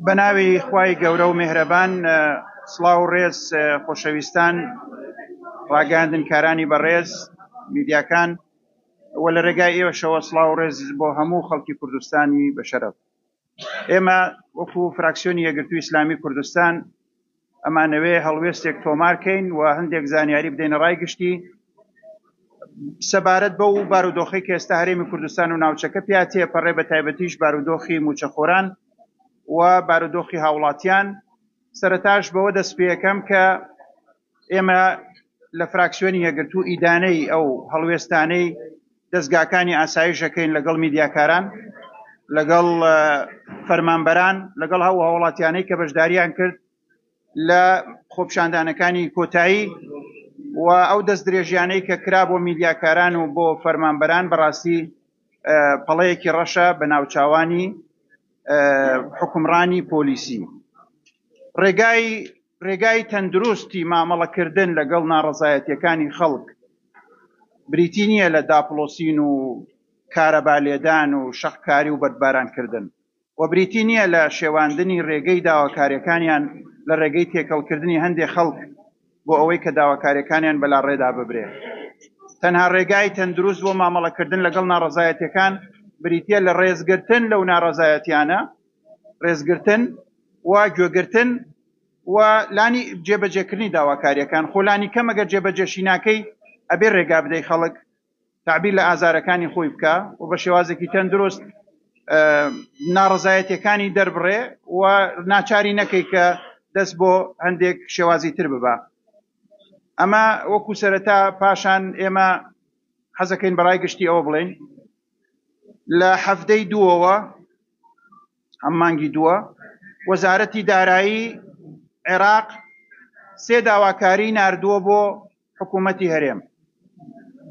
بەناوی خوای گەورە و مێهرەبان سڵاو و ڕێز خۆشەویستان ڕاگەیاندنکارانی بەڕێز میدیاکان و لە ڕێگای ئێوەشەوە سڵاو و ڕێز بۆ هەموو خەڵکی کوردستانی بەشەرەف ئێمە وەکو فراکسیۆنی یەکگرتووی ئیسلامی کوردستان ئەمانەوێ هەڵوێستێک تۆمار کەین و هەندێک زانیاری بدەینە ڕای گشتی سەبارەت بە و بارودۆخی کە ئێستا هەرێمی کوردستان و ناوچەکە پیا تێپەڕێ بە تایبەتیش بارودۆخی موچەخۆران و بارودۆخی هاوڵاتیان سەرتاش بەوە دەست پێەکەم کە ئێمە لە فراکسیۆنی یەکگرتوو ئیدانەی ئەو هەڵوێستانەی دەزگاکانی ئاسایش ئەکەین لەگەڵ میدیاکاران، لەگەڵ فەرمانبەران، لەگەڵ ئەو هاوڵاتیانەی کە بەشداریان کرد لە خۆپیشاندانەکانی کۆتایی و ئەو دەست درێژیانەی کە کرا بۆ میدیاکاران و بۆ فەرمانبەران بەڕاستی پەڵەیەکی ڕەشە بە ناوچاوانی حکومڕانی پۆلیسی ڕێگای ڕێگای تەندروستی مامەڵەکردن لەگەڵ ناڕەزایەتیەکانی خەڵک بریتی نییە لە داپڵۆسین و کارەبا لێدان و شەقکاری و بەردبارانکردن و بریتی نییە لە شێواندنی ڕێگەی داواکاریەکانیان لە ڕێگەی تێکەڵکردنی هەندێک خەڵک بۆ ئەوەی کە داواکاریەکانیان بەلاڕێدا ببرێ تەنها ڕێگای تەندروست بۆ مامەڵەکردن لەگەڵ ناڕەزایەتەکان بریتە لە ڕێزگرتن لەو ناڕەزایەتیانە ڕێزگرتن و گوێگرتن و لانی جێبەجێکردنی داواکاریەکان خۆ لانی کەم ئەگەر جێبەجێشی ناکەی ئەبێ ڕێگا بدەی خەڵک تعبیر لە ئازارەکانی خۆی بکە و بە شێوازێکی تەندروست ناڕزایەتەکانی دەربڕێ و ناچاری نەکەی کە دەست بۆ هەندێک شێوازی تر ببە ئەمە وەکو سەرەتا پاشان ئێمە حەزەکەین بەڕای گشتی ئەوە بڵێن لە حەفتەی دووەوە ئەم مانگی دووە وەزارەتی دارایی عێراق سێ داواکاری ناردووە بۆ حکوومەتی هەرێم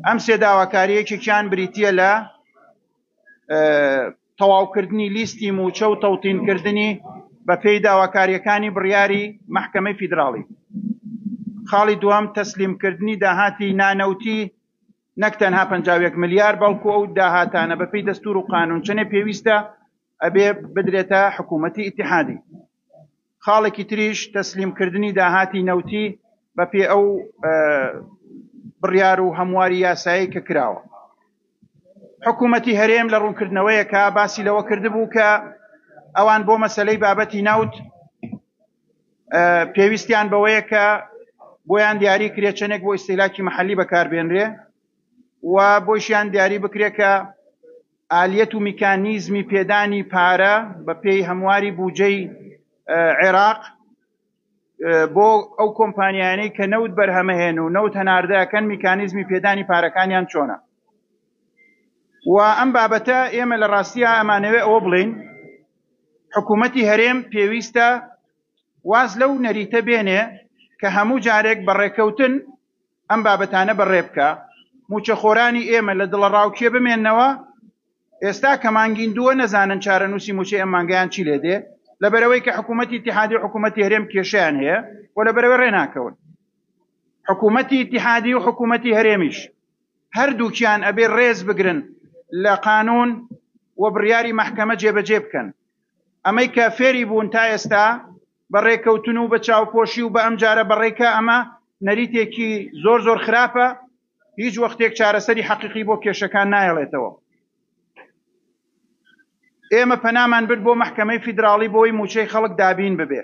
ئەم سێ داواکاریەکێکیان بریتە لە تەواوکردنی لیستی موچە و تەوتینکردنی بە پێی داواکاریەکانی بڕیاری محکمەی فیدراڵی خاڵی دوام تەسلیمکردنی داهاتی نانەوتی نەک تەنها پەنجا و یەک ملیار بەڵکو ئەو داهاتانە بەپێی دەستور و قانون چەنێ پێویستە ئەبێ بدرێتە حکوومەتی ئیتحادی خاڵێکی تریش تەسلیم کردنی داهاتی نەوتی بەپێ ئەو بڕیار و هەمواری یاسایی کە کراوە حکوومەتی هەرێم لە ڕوونکردنەوەیەکە باسی لەوە کردبوو کە ئەوان بۆ مەسلەی بابەتی ناوت پێویستیان بەوەیە کە بۆیان دیاری کرێ چەندێک بۆ ئیسیلاکی محلی بەکاربێنرێ و بۆشیان دیاری بکرێت کە ئالیەت و میکانیزمی پێدانی پارە بە پێی هەمواری بودجەی عێراق بۆ ئەو کۆمپانیانەی کە نەوت بەرهەمەهێن و نەوت هەناردەکەن میکانیزمی پێدانی پارەکانیان چۆنە و ئەم بابەتە ئێمە لە ڕاستیا ئەمانەوێ ئەوە بڵێین حکوومەتی هەرێم پێویستە واز لەو نەریتە بێنێ کە هەموو جارێک بە ڕێکەوتن ئەم بابەتانە بەڕێ بکە موچەخۆرانی ئێمە لە دڵە ڕاوکێ بمێنەوە ئێستا کە مانگین دووە نەزانن چارەنووسی موچەی ئەم مانگیان چی لێ دێ لەبەرەوەی کە حکوومەتی اتحادی و حکوومەتی هەرێم کێشیان هەیە و لەبەرەوەی ڕێناکەون حکوومەتی اتحادی و حکوومەتی هەرێمیش هەردووکیان ئەبێ ڕێز بگرن لە قانون و بڕیاری مەحکەمە جێبەجێ بکەن. ئەمەی کە فێری بوون تا ئێستا بە ڕێکەوتن و بە چاوپۆشی و بە ئەمجارە بە ڕێکە ئەمە نەریتێکی زۆر زۆر خراپە هیچ وەختێک چارەسەری حەقیقی بۆ کێشەکان نایڵێتەوە. ئێمە پەنامان برد بۆ مەحکەمەی فیدراڵی بۆی موچەی خەڵک دابین ببێ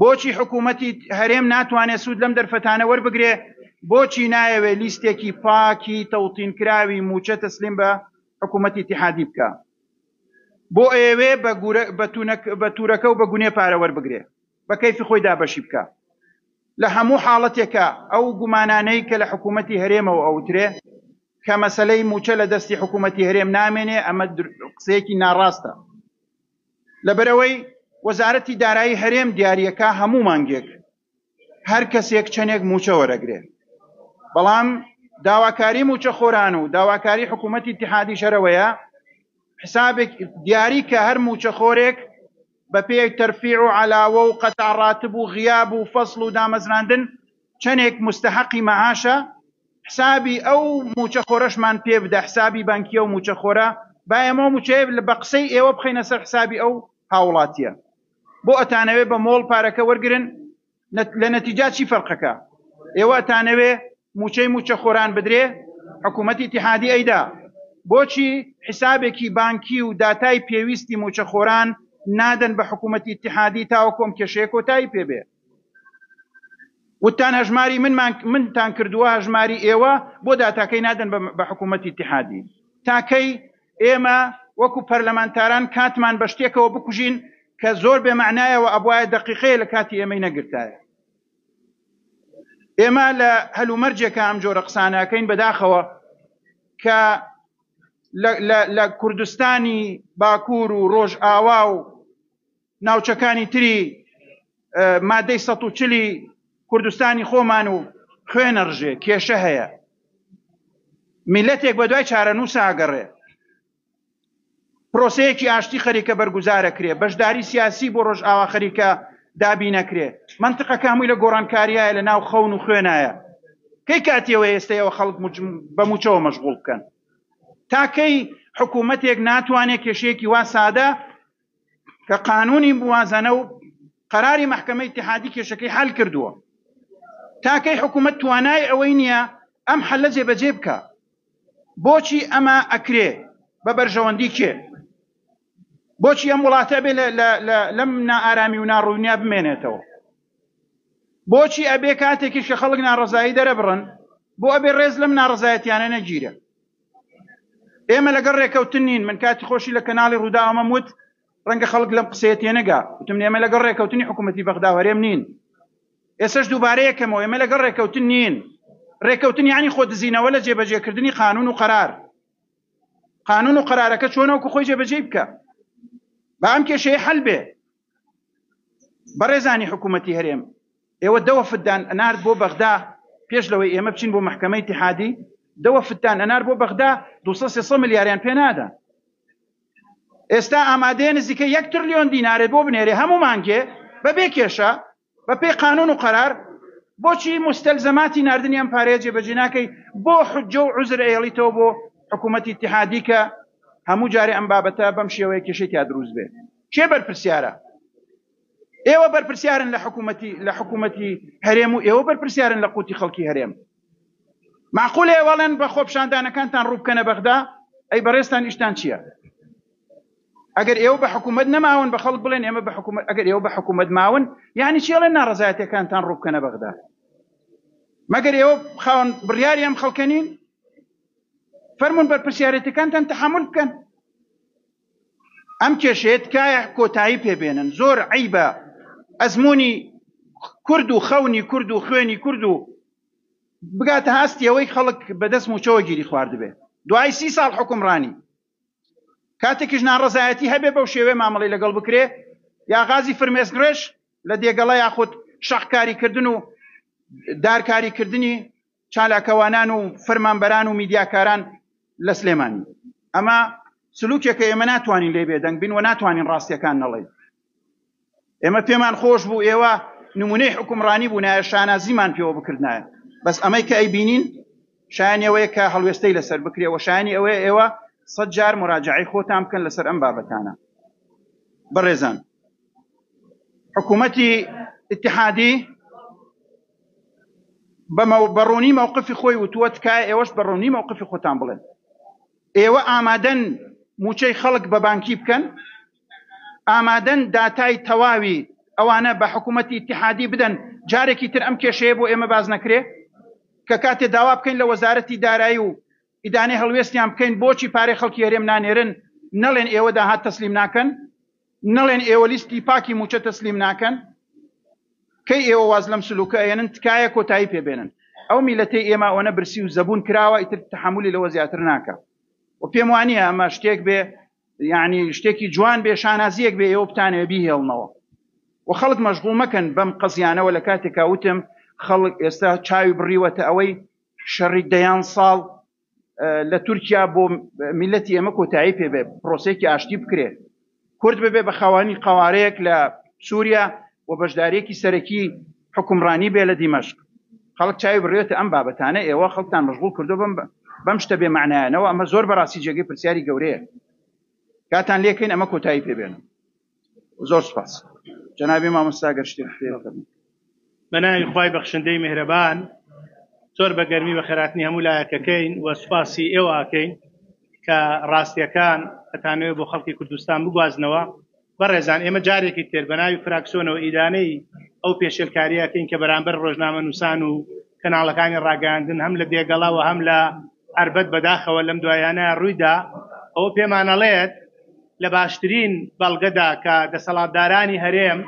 بۆچی حکوومەتی هەرێم ناتوانێت سوود لەم دەرفەتانە وەربگرێ بۆچی نایەوێت لیستێکی پاکی تەوتینکراوی مووچە تەسلیم بە حکوومەتی تحادی بکە بۆ ئەیەوێ بە تورەکە و بە گونێ پارە وەربگرێ بە کەیفی خۆی دابەشی بکە لە هەموو حاڵەتێکە ئەو گومانانەی کە لە حکوومەتی هەرێمەوە ئەوترێ کە مەسلەی مووچە لە دەستی حکوومەتی هەرێم نامێنێ ئەمە قسەیەکی ناڕاستە لەبەرئەوەی وەزارەتی دارایی هەرێم دیاریەکا هەموو مانگێک هەر کەسێک چەنێک مووچە وەرەگرێ بەڵام داواکاری مووچە خۆران و داواکاری حکوومەتی اتحادی شەرەوەیە حسابێک دیاری کە هەر مووچە خۆرێک بە پێی تەرفیع و علاوە و قەتع ڕاتب و غیاب و فەصل و دامەزراندن چەنێک مستحقی مەعاشە حسابی ئەو موچە خۆرەشمان پێ بدە حسابی بانکی ئەو موچە خۆرە با ئێمەو موچەیە لە بەقسەی ئێوە بخەینە سەر حسابی ئەو هاوڵاتیە بۆ ئەتانەوێ بە مۆڵ پارەکە وەرگرن لە نەتیجا چی فەرقەکە ئێوە ئەتانەوێ موچەی موچە خۆران بدرێ حکوومەتی تحادی ئەیدا بۆچی حسابێکی بانکی و داتای پێویستی موچە خۆران نادەن بە حکوومەتی تحادی تاوە کۆم کێشەیە کۆتایی پێبێ وتتان هەژماری منمان منتان کردووە هەژماری ئێوە بۆ داتاکەی نادەن بە حکوومەتی ئیتیحادی؟ تا کەی ئێمە وەکوو پەرلەمانتاران کاتمان بە شتێکەوە بکوژین کە زۆر بێ مەعنایە و ئەبوایە دەقیقەیە لە کاتی ئێمەی نەگرتایە؟ ئێمە لە هەلومەرجێکە ئەم جۆرە قسانە ئەکەین بەداخەوە کە لە کوردستانی باکوور و ڕۆژئاوا و ناوچەکانی تری مادەی سەد و چلی کوردستانی خۆمان و خوێنە ڕژێ کێشە هەیە میلەتێک بە دوای چارەنووس ئاگەڕێ پرۆسەیەکی ئاشتی خەریکە بەرگوزارەکرێ بەشداری سیاسی بۆ ڕۆژ ئاوا خەریکە دابی نەکرێ منطقە کامووی لە گۆڕانکاریایە لە ناو خەون و خوێنایە کەی کاتیەوە ئێستەیەوە خەڵک بە موچەوە مەشغول بکەن تاکەی حکوومەتێک ناتوانێت کێشەیەکی وا سادە کە قانونی موازنە و قەراری مەحکەمە ئیتحادی کێشەکەی حل کردووە تاکەی حکوومەت توانای ئەوەی نییە ئەم حلە جێبەجێ بکە بۆچی ئەمە ئەکرێ بە بەرژەوەندی کێ بۆچی ئەم وڵاتە بێ لەم نائارامی و ناڕوونیا بمێنێتەوە بۆچی ئەبێ کاتێکیش کە خەڵک ناڕزایی دەرەبڕن بۆ ئەبێ ڕێز لەم ناڕزایەتیانە نەگیرە ئێمە لەگەڵ ڕێکەوتن نین من کاتی خۆشی لە کەناڵی ڕوودا ئەمەم وت ڕەنگە خەڵک لەم قسەیە تێنەگا وتم ئێمە لەگەڵ ڕێکەوتنی حکوومەتی بەغدا و هەرێم نین ئێسش دووبارە یەکەمەوە ئێمە لەگەڵ ڕێکەوتن نین ڕێکەوتن یانی خۆ دزینەوە لە جێبەجێکردنی قانون و قرار قانون و قرارەکە چۆنەوەکو خۆی جێبەجێ بکە بە ئەم کێشەیە حل بێ بەڕێزانی حکوومەتی هەرێم ئێوە دە وەفددان ئەنارد بۆ بەغدا پێش لەوەی ئێمە بچین بۆ محکمەی تحادی دە وەفدتان ئەنار بۆ بەغدا 200 ملیاریان پێ نادا ئێستا ئامادەیە نزیکە یەک ترلیۆن دینارێ بۆ بنێرێ هەموو مانگێ بەبێ کێشە بە پێی قانون و قەرار بۆچی موستەلزەماتی ناردنی ئەم پارەیە جێبەجێ ناکەی بۆ حجە و عوزر ئەیەڵیتەوە بۆ حکوومەتی اتحادی کە هەموو جارێ ئەم بابەتە بەم شێوەیە کێشەی تیا دروست بێت کێ بەرپرسیارە ئێوە بەرپرسیارن لە حکوومەتی لە حکوومەتی هەرێم و ئێوە بەرپرسیارن لە قوتی خەڵکی هەرێم معقولێ وەڵێن بە خۆپشاندانەکانتان ڕووبکەنە بەغدا ئەی بەڕێستان ئیشتان چییە ئەگەر ئێوە بە حکوومەت نەماون بە خەڵک بڵێن ئێمە بە حکوومەت ئەگەر ئێوە بە حکوومەت ماون یعنی چی ئەڵێن ناڕزایەتەکانتان ڕووبکەنە بەغدا مەگەر ئێوە خاون بڕیاری ئەم خەڵکەنین فەرمونون بەرپسیارەتەکانتان تحمل بکەن ئەم کێشێت کایە کۆتایی پێبێنن زۆر عیبە ئەزمموی کورد و خەونی کورد و خوێنی کورد و بگاتە هەستی ئەوەی خەڵک بەدەست موچەوە گیری خواردبێ دوای سی ساڵ حکومڕانی کاتێکیش ناڕەزایەتی هەبێ بەو شێوێ مامەڵەی لەگەڵ بکرێ یا غازی فرمێسکڕێژ لە دێگەڵە یاخود شەقکاریکردن و دارکاریکردنی چالاکەوانان و فەرمانبەران و میدیاکاران لە سلێمانی ئەمە سلوکێکە ئێمە ناتوانین لێ بێدەنگ بین و ناتوانین ڕاستیەکان نەڵێن ئێمە پێمان خۆش بوو ئێوە نمونەی حکومڕانی بوونایە شانازیمان پێوە بکردایە بەس ئەمەی کە ئەیبینین شایانی ئەوەیە کە هەڵوێستەی لەسەر بکرێ و شایانی ئەوەیە ئێوە سەد جار مراجعی خۆتان بکەن لەسەر ئەم بابەتانە بەڕێزان حکوومەتی اتحادی بەمە بەڕوونی مووقفی خۆی وتووە تکایە ئێوەش بەڕوونی مووقفی خۆتان بڵێن ئێوە ئامادەن موچەی خەڵک بە بانکی بکەن ئامادەن داتای تەواوی ئەوانە بە حکوومەتی ئیتیحادی بدەن، جارێکی تر ئەم کێشەیە بۆ ئێمە باس نەکرێ؟ کە کاتێ داوا بکەین لە وەزارەتی دارایی و ئیدانەی هەڵوێستیان بکەین بۆچی پارەی خەڵکی هەرێم نانێرن، نەڵێن ئێوە داهات تەسلیم ناکەن؟ نەڵێن ئێوە لیستی پاکی مووچە تەسلیم ناکەن؟ کەی ئێوە واز لەم سلووکە ئەیەنن؟ تکایە کۆتایی پێ بێنن. ئەو میلەتەی ئێمە ئەوەنە برسی و زەبوون کراوە ئیتر تەحەموولی لەوە زیاتر ناکا و پێم وا نییە ئەمە شتێک بێ یەعنی شتێکی جوان بێ شانازیەک بێ ئێوە بتانەوێ بیهێڵنەوە و خەڵک مەشغوڵ مەکەن بەم قەزیانەوە لە کاتێکا وتم خەڵک ئێستا چاوی بڕیوەتە ئەوەی شەڕی دەیان ساڵ لە تورکیا بۆ میلەتی ئێمە کۆتایی پێ بێ پرۆسێکی ئاشتی بکرێت کورد ببێ بە خاوانی قوارەیەک لە سووریا و بەشدارێکی سەرەکی حوکمڕانی بێ لە دیمەشق. خەڵک چاوی بڕیوەتە ئەم بابەتانە ئێوە خەڵکتان مەشغوڵ کردوە بەم بەم شتە بێ مەعنایانەوە ئەمە زۆر بەڕاستی جێگەی پرسیاری گەورەیە کاتان لێکەین ئەمە کۆتایی پێ بێنن زۆر سپاس جەنابی مامۆستا گەر شتێک پێ بکەن. بە ناوی خوای بەخشندەی میهرەبان زۆر بە گەرمی بە خێراتنی هەموو لایەکەکەین و سوپاسی ئێوە ئەکەین کە ڕاستییەکان ئەتانەوێ بۆ خەڵکی کوردستان بگوازنەوە بەڕێزان ئێمە جارێکی تر بەناوی فراکسۆنەوە ئیدانەی ئەو پێشێلکاریەکەین کە بەرامبەر ڕۆژنامە نووسان و کەناڵەکانی ڕاگەیاندن هەم لە دێگەڵا و هەم لە ئەربەت بەداخەوە لەم دوایانە ڕوویدا ئەوە پێمانەڵێت لە باشترین بەڵگەدا کە دەسەڵاتدارانی هەرێم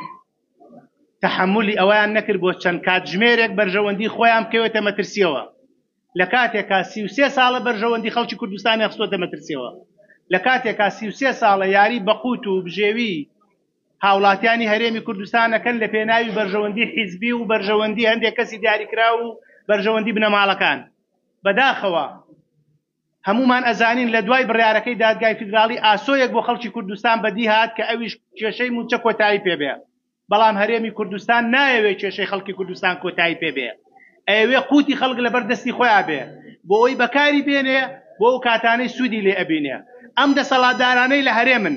تەحەمولی ئەوەیان نەکرد بۆ چەند کاتژمێرێک بەرژەوەندی خۆیان بکەوێتە مەترسیەوە لە کاتێکا سی و سێ ساڵە بەرژەوەندی خەڵکی کوردستانی خستۆتە مەترسیەوە لە کاتێکا سی و سێ ساڵە یاری بەقوت و بژێوی هاوڵاتیانی هەرێمی کوردستانەکەن لە پێناوی بەرژەوەندی حیزبی و بەرژەوەندی هەندێک کەسی دیاریکرا و بەرژەوەندی بنەماڵەکان بەداخەوە هەموومان ئەزانین لە دوای بڕیارەکەی دادگای فیدراڵی ئاسۆیەک بۆ خەڵکی کوردستان بەدی هات کە ئەویش کێشەی مووچە کۆتایی پێ بێ بەڵام هەرێمی کوردستان نایەوێ کێشەی خەڵکی کوردستان کۆتایی پێ بێ ئەیەوێ قوتی خەڵک لەبەر دەستی خۆیان بێ بۆ ئەوی بەکاری بێنێ بۆ ئەو کاتانەی سوودی لێ ئەبینێ ئەم دەسەڵاتدارانەی لە هەرێمن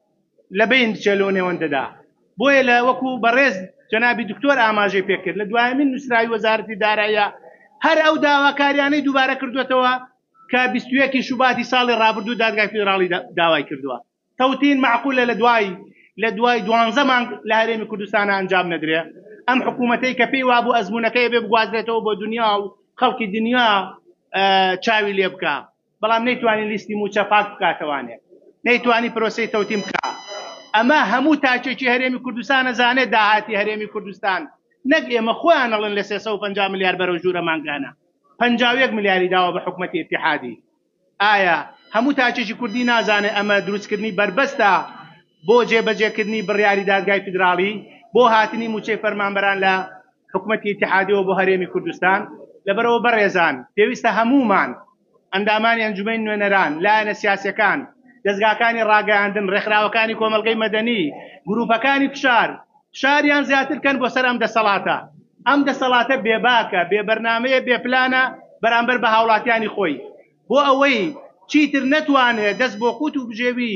لە بەین بچێ لەو نێوەندەدا. بۆیە لە وەکو بەڕێز جەنابی دکتۆر ئاماژەی پێکرد لە دوایەمین نووسراوی وەزارەتی داراییە هەر ئەو داواکاریانەی دووبارە کردوەتەوە کە بیست و یەک شوباتی ساڵی ڕابردوو دادگای فیدراڵی داوای کردووە تەوتین معقولە لە دوای لە دوای دوانزە مانگ لە هەرێمی کوردستانە ئەنجام نەدرێ ئەم حکوومەتەی کە پێی وابوو ئەزمونونەکەی بێ بگوازرێتەوە بۆ دنیا و خەڵکی دنیا چاوی لێ بکە بەڵام نەیتوانی لیستی مووچە پاک بکاتەوانێ نەیتوانی پرۆسەی تەوتیم بکا ئەمە هەموو تاکێکی هەرێمی کوردستانە زانێت داهاتی هەرێمی کوردستان نەک ئێمە خۆیان ئەڵێن لە 350 ملیار بەرەو ژوورە مانگانە 51 ملیاری داوە بە حکومەتی اتحادی ئایا هەموو تاکێکی کوردی نازانێت ئەمە دروستکردنی بەربەستە بۆ جێبەجێکردنی بڕیاری دادگای فیدراڵی بۆ هاتنی مووچەی فەرمانبەران لە حکومەتی ئیتحادیەوە بۆ هەرێمی کوردستان، لەبەرئەوە بەڕێزان پێویستە هەموومان، ئەندامانی ئەنجومەنی نوێنەران، لایەنە سیاسیەکان، دەزگاکانی ڕاگەیاندن، ڕێکخراوەکانی کۆمەڵگەی مەدەنی، گروپەکانی فشار، فشاریان زیاتر کەن بۆ سەر ئەم دەسەڵاتە. ئەم دەسەڵاتە بێباکە، بێ بەرنامەیە، بێ پلانە بەرامبەر بە هاوڵاتیانی خۆی. بۆ ئەوەی چیتر نەتوانێت دەست بۆ قوت و بژێوی،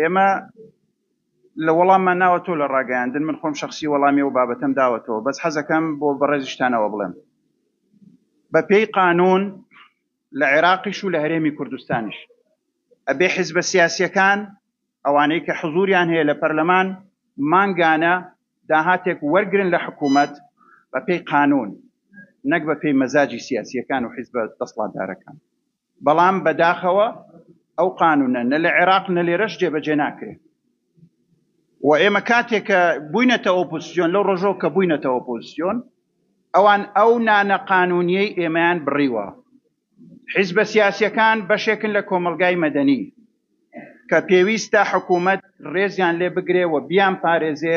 ئێمە لە وەڵاممان ناوەتەوە لە ڕاگەیاندن من خۆم شخصی وەڵامی و بابەتەم داوەتەوە بەس حەزەکەم بۆ بەڕێزیشتانەوە بڵێم بە پێی قانون لە عێراقیش و لە هەرێمی کوردستانیش ئەبێ حزبە سیاسیەکان ئەوانەی کە حزوریان هەیە لە پەرلەمان مانگانە داهاتێک وەرگن لە حکوومەت بە پێی قانون نەک بە پێی مەزاجی سیاسیەکان و حزبە دەسڵاتدارەکان بەڵام بەداخەوە ئەو قانوونە نە لە عێراق نە لێرەش جێبەجێ ناکرێت و ئێمە کاتێک کە بووینەتە ئۆپۆزیسیۆن لەو ڕۆژەوە کە بووینەتە ئۆپۆزیسیۆن ئەوان ئەو نانە قانوونیەی ئێمەیان بڕیوە حیزبە سیاسیەکان بەشێکن لە کۆمەلگای مەدەنی کە پێویستە حکوومەت ڕێزیان لێ بگرێ و بیان پارێزێ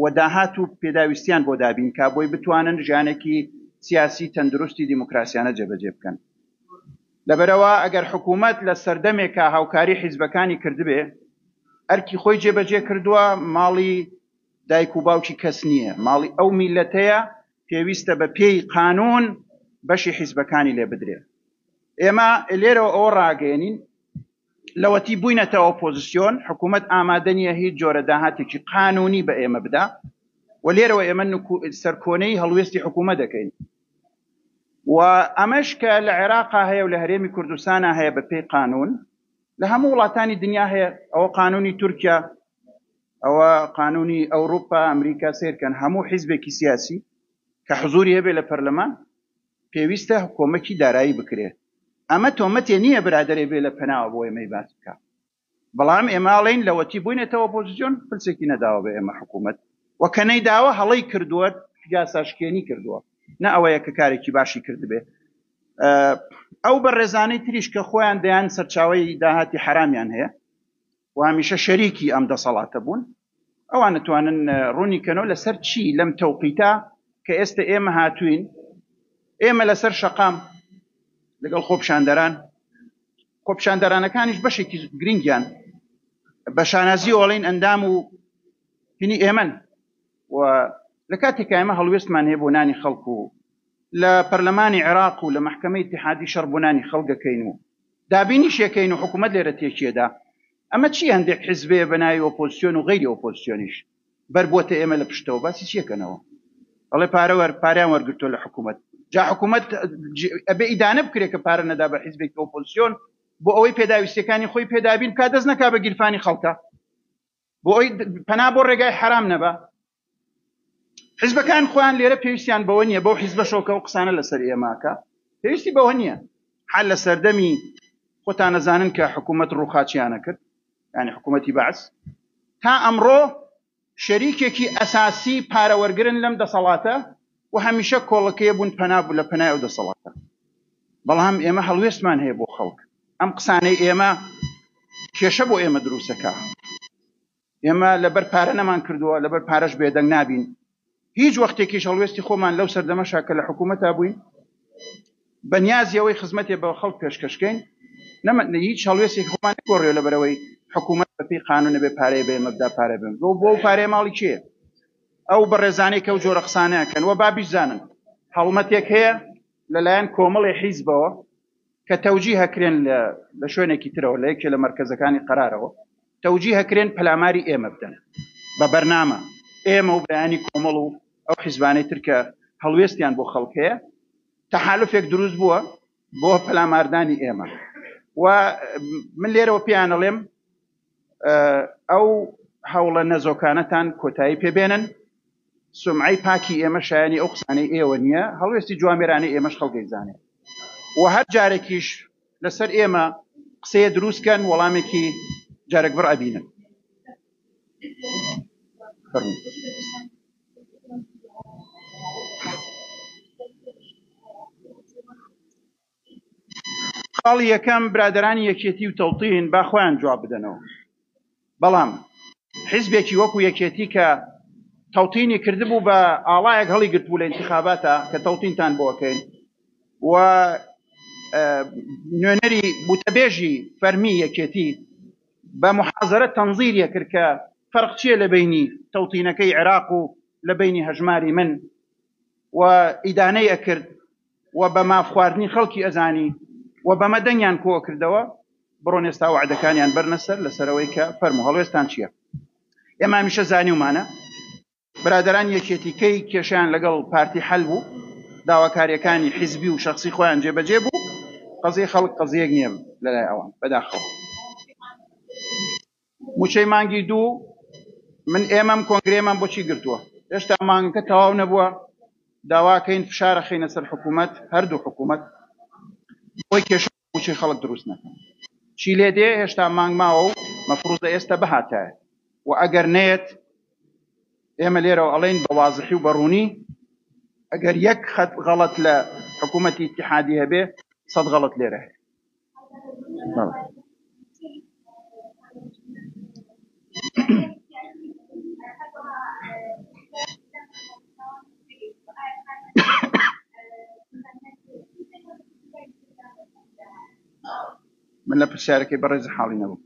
و داهات و پێداویستیان بۆ دابین کا بۆی بتوانن ژیانێکی سیاسی تەندروستی دیموکراسیانە جێبەجێ بکەن لەبەرئەوە ئەگەر حکوومەت لە سەردەمێکا هاوکاری حیزبەکانی کردبێ، ئەرکی خۆی جێبەجێ کردووە، ماڵی دایک و باوکی کەس نییە، ماڵی ئەو میللەتەیە، پێویستە بە پێی قانوون بەشی حیزبەکانی لێ بدرێ. ئێمە لێرەوە ئەوە ڕاگەیەنین، لەوەتی بووینەتە ئۆپۆزسیۆن، حکوومەت ئامادە نییە هیچ جۆرە داهاتێکی قانوونی بە ئێمە بدا و لێرەوە ئێمە سەرکۆنەی هەڵوێستی حکوومەت دەکەین. و ئەمەش کە لە عێراقا هەیە و لە هەرێمی کوردستانا هەیە بە پێی قانوون لە هەموو وڵاتانی دنیا هەیە ئەوە قانوونی تورکیا ئەوە قانوونی ئەوروپا ئەمریکا سێرکەن هەموو حیزبێکی سیاسی کە حزوری هەبێ لە پەرلەمان پێویستە کۆمەکی دارایی بکرێت ئەمە تۆمەتێ نییە برادرێ بێ لە پەناوە بۆ ئێمەی باس بکە بەڵام ئێمە ئەڵێین لەوەتی بوینەتە ئۆپۆزسیۆن پرسێکی نەداوە بە ئێمە حکوومەت و کە نەیداوە هەڵەی کردووە یاساشکێنی کردووە نە ئەوەیە کە کارێکی باشی کردبێ ئەو بە ڕێزانەی تریش کە خۆیان دەیان سەرچاوی داهاتی حرامیان هەیە و هەمیشە شەریکی ئەم دەسەڵاتە بوون ئەوان ئەتوانن ڕوونی کەنەوە لەسەر چی لەم تەوقیتە کە ئێستە ئێمە هاتووین، ئێمە لەسەر شەقام لەگەڵ خۆپیشاندەران، خۆپیشاندەرانەکانیش بەشێکی گرنگیان بە شانازی ئۆڵین ئەندام و هینی ئێمەن و لە کاتێکا ئێمە هەڵوێستمان هەیە بۆ نانی خەڵک و لە پەرلەمانی عێراق و لە مەحکەمەی ئیتیحادی شەڕ بۆ نانی خەڵکەکەین و دابینیشێکەین و حکوومەت لێرە تێکیەدا ئەمە چیە هەندێک حیزبێ بە ناوی ئۆپۆزسیۆن و غەیری ئۆپۆزسیۆنیش بەر بۆتە ئێمە لە پشتەوە باسی چی ئەکەنەوە ئەڵێ پارە وەر پاریان وەرگرتووە لە حکوومەت جا حکوومەت ئەبێ ئیدانە بکرێت کە پارە نەدا بە حیزبێکی ئۆپۆزسیۆن بۆ ئەوەی پێداویستەکانی خۆی پێدابین کا دەست نەکا بە گیرفانی خەڵکە بۆ ئەوی پەنا بۆ ڕێگای حرام نەبە حیزبەکان خۆیان لێرە پێویستیان بەوە نییە بەو حیزبەشەوە کە ئەو قسانە لەسەر ئێماکە پێویستی بەوە نییە حال لە سەردەمی خۆتان نەزانن کە حکوومەت ڕووخاچیانە کرد ینی حکوومەتی بەعس تا ئەمڕۆ شەریکێکی ئەساسی پارەوەرگرن لەم دەسەڵاتە و هەمیشە کۆڵەکەی بوون پەنابوو لە پەنای ئەو دەسەڵاتە بەڵام ئێمە هەڵوێستمان هەیە بۆ خەڵک ئەم قسانەی ئێمە کێشە بۆ ئێمە دروستەکە ئێمە لەبەر پارە نەمان کردووە، لەبەر پارەش بێدەنگ نابین. هیچ وەختێکیش هەڵوێستی خۆمان لەو سەردەمەشا کە لە حکوومەتا بووین، بە نیازی ئەوەی خزمەتێ بە خەڵک پێشکەش کەین، نەمە، هیچ هەڵوێستێکی خۆمان نەگۆڕیوە لەبەر ئەوەی حکوومەت بەپێی قانوون نەبێ پارەی بە ئێمە بدا، پارە بە ئێمە بدا. بۆ ئەو پارەیە ماڵی کێیە؟ ئەو بەڕێزانەی کە ئەو جۆرە قسانە ئەکەن و با بیزانن هەڵمەتێک هەیە لەلایەن کۆمەڵێ حیزبەوە کە تەوجیه ئەکرێن لە لە شوێنێکی ترەوە لە یەکێ لە مەرکەزەکانی قەرارەوە تەوجیه ئەکرێن پەلاماری ئێمە بدەن بە بەرنامە ئێمە و بەیانی کۆمەڵ و ئەو حیزبانەی تر کە هەڵوێستیان بۆ خەڵک هەیە تەحالفێک دروست بووە بۆ پەلاماردانی ئێمە و من لێرەوە پێیان ئەڵێم ئەو هەوڵە نەزۆکانەتان کۆتایی پێبێنن سمعی پاکی ئێمە شایانی ئەو قسانەی ئێوە نییە هەڵوێستی جوامێرانەی ئێمەش خەڵگەی زانێ و هەر جارێکیش لەسەر ئێمە قسەیە دروستکەن وەڵامێکی جارێک بڕ ئەبینن فەرمو خاڵی یەکەم، برادەرانی یەکێتی و تەوتین با خۆیان جواب بدەنەوە، بەڵام حیزبێکی وەکو یەکێتی کە تەوتینی کردبوو بە ئاڵایەک هەڵیگرتبوو لە ئینتیخاباتا کە تەوتینتان بۆ ئەکەین و نوێنەری بوتەبێژی فەرمی یەکێتی بە محازرە تەنزیریە کرد کە فەرق چییە لە بینی تەوتینەکەی عێراق و لە بینی هەژماری من و ئیدانەی ئەکرد و بە ماف خواردنی خەڵکی ئەزانی و بەمە دەنگیان کۆ کردەوە بڕۆن ئێستا وەعدەکانیان بەرنە سەر لەسەرەوەی کە فەرموو هەڵوێستان چیە ئێمە هەمیشە زانیومانە برادەرانی یەکێتی کەی کێشیان لەگەڵ پارتی حەل بوو داواکاریەکانی حیزبی و شخصی خۆیان جێبەجێ بوو قەزیە خەڵک قەزیەک نیە لەلای ئەوان بەداخەوە. موچەی مانگی دوو من ئێمەم کۆنگرێمان بۆچی گرتووە هێشتا مانگەکە تەواو نەبووە داواکەین فشارە خینە سەر حکوومەت هەردوو حکوومەت بۆی کێشە موچەی خەڵک دروست نەکەن چی لێ دێ هێشتا مانگ ماوە و مەفروزە ئێستا بهاتایە و ئەگەر نێت ئێمە لێرەوە ئەڵین بە وازحی و بەڕوونی ئەگەر یەک خەت غەڵەت لە حکوومەتی اتحادی هەبێ سەد غەڵەت لێرە هەیە من لە پرسیارەکەی بەڕێز حاڵی نەبوو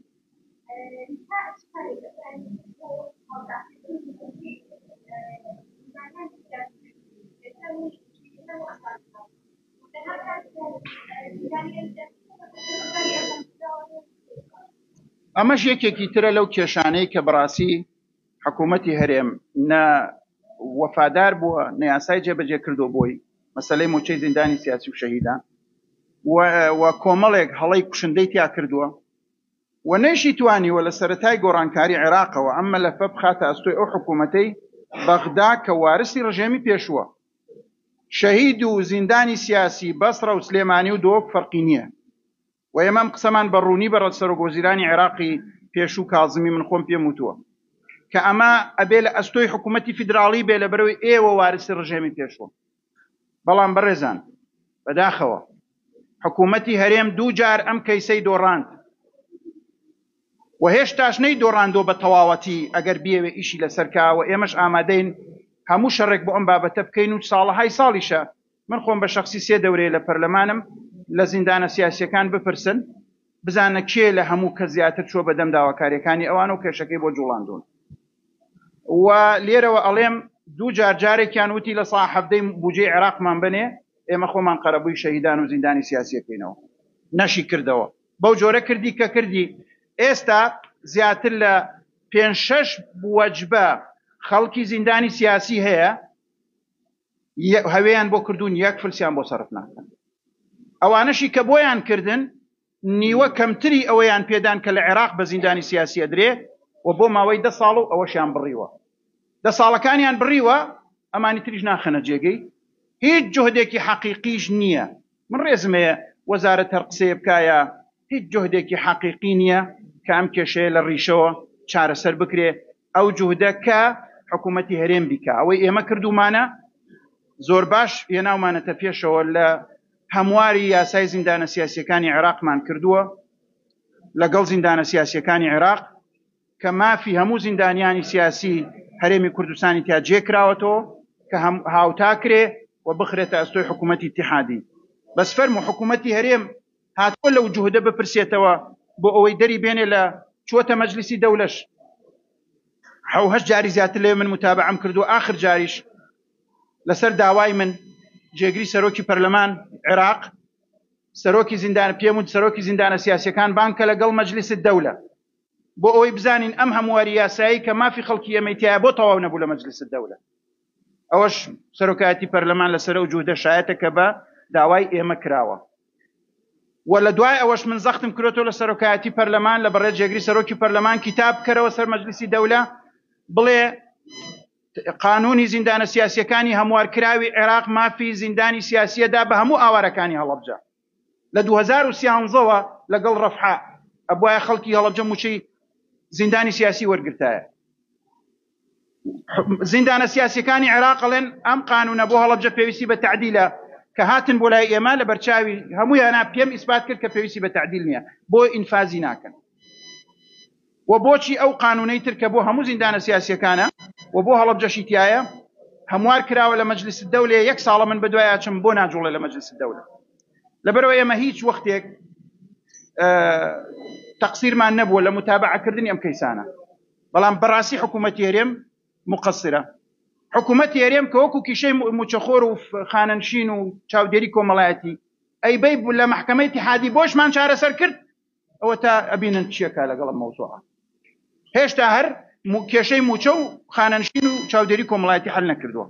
ئەمەش یەکێکی ترە لەو کێشانەی کە بەڕاستی حکوومەتی هەرێم نە وەفادار بووە نەیاسای جێبەجێ کردو بۆی مەسلەی موچەی زیندانی سیاسی و شەهیدان و کۆمەڵێک هەڵی کوشندەی تیا کردووە و نەیشی توانیوە لە سەتای گۆڕانکاری عێراقەوە ئەم مەلەفە بخاتە ئەستۆی ئەو حکوومەتەی بەغدا کە وارسی ڕژێمی پێشووە شەهید و زیندانی سیاسی بەسڕە و سلێمانی و دهۆک فەرقی نییە و ئێمە ئەم قسەمان بە ڕوونی بە سەرۆک وەزیرانی عێراقی پێشوو کازمی من خۆم پێم وتووە کە ئەمە ئەبێ لە ئەستۆی حکوومەتی فیدراڵی بێ لە بەرەوەی ئێوە وارسی ڕژێمی پێشوە بەڵام بەڕێزان بەداخەوە حکوومەتی هەرێم دوو جار ئەم کەیسەی دۆڕاند و هێشتاش نەیدۆڕاندووە بە تەواوەتی، ئەگەر بیەوێت ئیشی لەسەر کا و ئێمەش ئامادەین هەموو شەڕێک بۆ ئەم بابەتە بکەین و ساڵەهای ساڵیشە، من خۆم بە شەخسی سێ دەورەیە لە پەرلەمانم، لە زیندانە سیاسییەکان بپرسن بزانە کێ لە هەموو کەس زیاتر چووە بەدەم داواکارییەکانی ئەوان و کێشەکەی بۆ جوڵاندوون و لێرەوە ئەڵێم دوو جار جارێکیان وتی لە سا حەڤدەی بوجەی عێراقمان بنێ ئێمە خۆمان قەرەبووی شەهیدان و زیندانی سیاسیەکەینەوە نەشی کردەوە بەو جۆرە کردی کە کردی. ئێستا زیاتر لە پێنج شەش وەجبە خەڵکی زیندانی سیاسی هەیە هەوێیان بۆ کردوون یەک فلسیان بۆ سەرف ناکەن. ئەوانەشی کە بۆیان کردن نیوە کەمتری ئەوەیان پێدان کە لە عێراق بە زیندانی سیاسی ئەدرێ و بۆ ماوەی دە ساڵ و ئەوەشیان بڕیوە. دە ساڵەکانیان بڕیوە ئەمانی تریش ناخەنە جێگەی هیچ جوهدێکی حەقیقیش نییە من ڕێزم هەیە وەزارەت هەر قسەیە بکایا هیچ جوهدێکی حەقیقی نیە کە ئەم کێشەیە لە ڕیشەوە چارەسەر بکرێ ئەو جوهدە کە حکومەتی هەرێم بیکا ئەوەی ئێمە کردومانە زۆر باش هێناومانەتە پێشەوە لە هەمواری یاسای زیندانە سیاسیەکانی عێراقمان کردووە لەگەڵ زیندانە سیاسیەکانی عێراق کە مافی هەموو زیندانیانی سیاسی هەرێمی کوردستانی تیا جێکراوەتەوە کە هاوتا کرێ و بخرێتە ئەستۆی حکوومەتی تحادی بەس فەرم و حکوومەتی هەرێم هاتووە لەو جهودە بپرسێتەوە بۆ ئەوەی دەری بێنێ لە چوەتە مەجلیسی دەولەش حوهش جاری زیاتر لێ من متابعەم کردو آخر جاریش لەسەر داوای من جێگری سەرۆکی پەرلەمان عێراق سەرۆکی زیندان پێم و سەرۆکی زیندانە سیاسەکان بانکە لەگەڵ مەجلیسی دەولە بۆ ئەوەی بزانین ئەم هەمواری یاسایی کە مافی خەڵکی ئەمەی تایە بۆ تەواو نەبوو لە مەجلس دەولە ئەوەش سەرۆکایەتی پەرلەمان لەسەر و جوودە شایەتە کە بە داوای ئێمە کراوە و لە دوای ئەوەش من زەختم کرێتەوە لە سەرۆکایەتی پەرلەمان لە بەڕێ جێگری سەرۆکی پەرلەمان کتاب بکەرەوە سەر مەجلسی دەولە بڵێ قانونی زیندانە سیاسیەکانی هەموارکراوی عێراق مافی زیندانی سیاسیەدا بە هەموو ئاوارەکانی هەڵەبجە لە دوو هەزار و سیانزە وە لەگەڵ ڕەفحا ئەبوایە خەڵکی هەڵەبجە موچەی زیندانی سیاسی وەرگرتایە زیندانە سیاسەکانی عێراق ڵێن ئەم قانونە بۆ هەڵەبجە پێویستی بە تعدیلە کە هاتن بۆ لای ئێمە لە بەرچاوی هەموو یانا پێم ئیسپات کرد کە پێویستی بە تعدیل نییە بۆ ئینفازی ناکەن وە بۆچی ئەو قانونەی تر کە بۆ هەموو زیندانە سیاسیەکانە وە بۆ هەڵەبجەشی تیایە هەموار کراوە لە مەجلیس الدەولەیە یەک ساڵە من بەدوای ئەچم بۆ ناجوڵێ لە مەجلیس الدەولە لەبەرەوە ئێمە هیچ وەختێک تەقسیرمان نەبووە لە متابعە کردنی ئەم کەیسانە بەڵام بەڕاستی حکوومەتی هەرێم مقصرە حکوومەتی هەرێم کە وەکو کیشەی موچەخۆر و خانەنشین و چاودێری کۆمەڵایەتی ئەی بەی لە محکمەی تحادی بۆشمان چارەسەر کرد ئەوەتا ئەبینن چیەکا لەگەڵ ئەم مەوزوعە هێشتا هەر مو- کێشەی موچە و خانەنشین و چاودێری کۆمەڵایەتی حل نەکردووە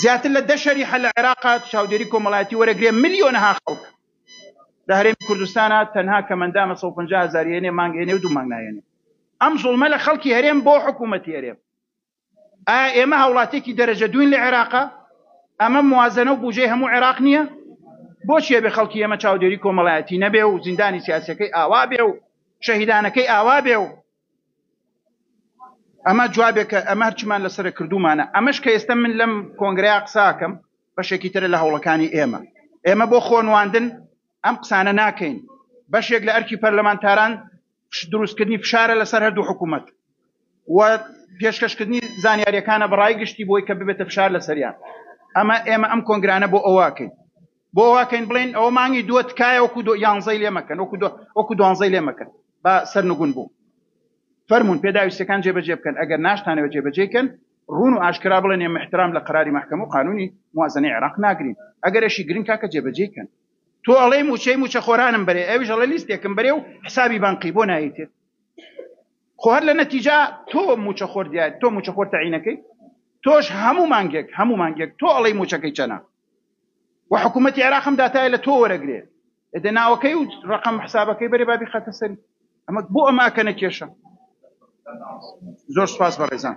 زیاتر لە دە شەریحە لە عێراق چاودێری کۆمەڵایەتی وەرەگرێ ملیۆنەها خەڵک لە هەرێمی کوردستانە تەنها کەمەندانە 150 هزار یێنێ مانگێنێ و دوو مانگ نایێنێ ئەم زوڵمە لە خەڵکی هەرێم بۆ حکوومەتی هەرێم ئایا ئێمە هاوڵاتێکی دەرەجە دووین لە عێراقا؟ ئەمە موازەنە و بوجەی هەموو عێراق نییە؟ بۆچی ئەبێ خەڵکی ئێمە چاودێری کۆمەڵایەتی نەبێ و زیندانی سیاسەکەی ئاوا بێ و شەهیدانەکەی ئاوا بێ و ئەمە جوابێکە ئەمە هەرچمان لەسەر کردومانە ئەمەش کە ئێستا من لەم کۆنگرەیە قساکەم بەشێکی ترە لە هەوڵەکانی ئێمە ئێمە بۆ خۆنواندن ئەم قسانە ناکەین بەشێک لە ئەرکی پەرلەمانتاران دروستکردنی فشارە لەسەر هەردوو حکوومەت و پێشکەشکردنی زانیاریەکانە بەڕای گشتی بۆی کە ببێتە فشار لەسەریان ئەمە ئێمە ئەم کۆنگرانە بۆ ئەوواکەین بۆ ئەوواکەین بڵێن ئەوە مانگی دووە تکایە وەکو دو یانزەی لێمەکەن وەکو وەکو دوانزەی لێمەکەن با سەرنگون بوو فەرمونون پێداویستەکان جێبەجێ بکەن ئەگەر ناشتانەوە جێبەجێکەن ڕون و ئاشکرا بڵێن ێ محترام لە قراری محکەم و قانونی موازنەی عێراق ناگرین ئەگەرشی گرنگ کاکە جێبەجێکەن تۆ ئەڵێی موچەی موچە خۆرانم بەرێ ئەویش ئەڵێ لیستێکم بەرێ و حسابی بانقی بۆ نایتێت خۆ هەر لە نەتیجا تۆ موچە خۆر دیات تۆ موچە خۆر تەعینەکەی تۆش هەموو مانگێک هەموو مانگێک تۆ ئەڵەی موچەکەی چەنە و حکوومەتتی عراقم داتای لە تۆ وەرەگرێ دە ناوەکەی و ڕقم حسابەکەی بەرێ بابی خەتە سەری ئەمە بۆ ئەماکە نەکێشە زۆر سپاس بە ڕێزان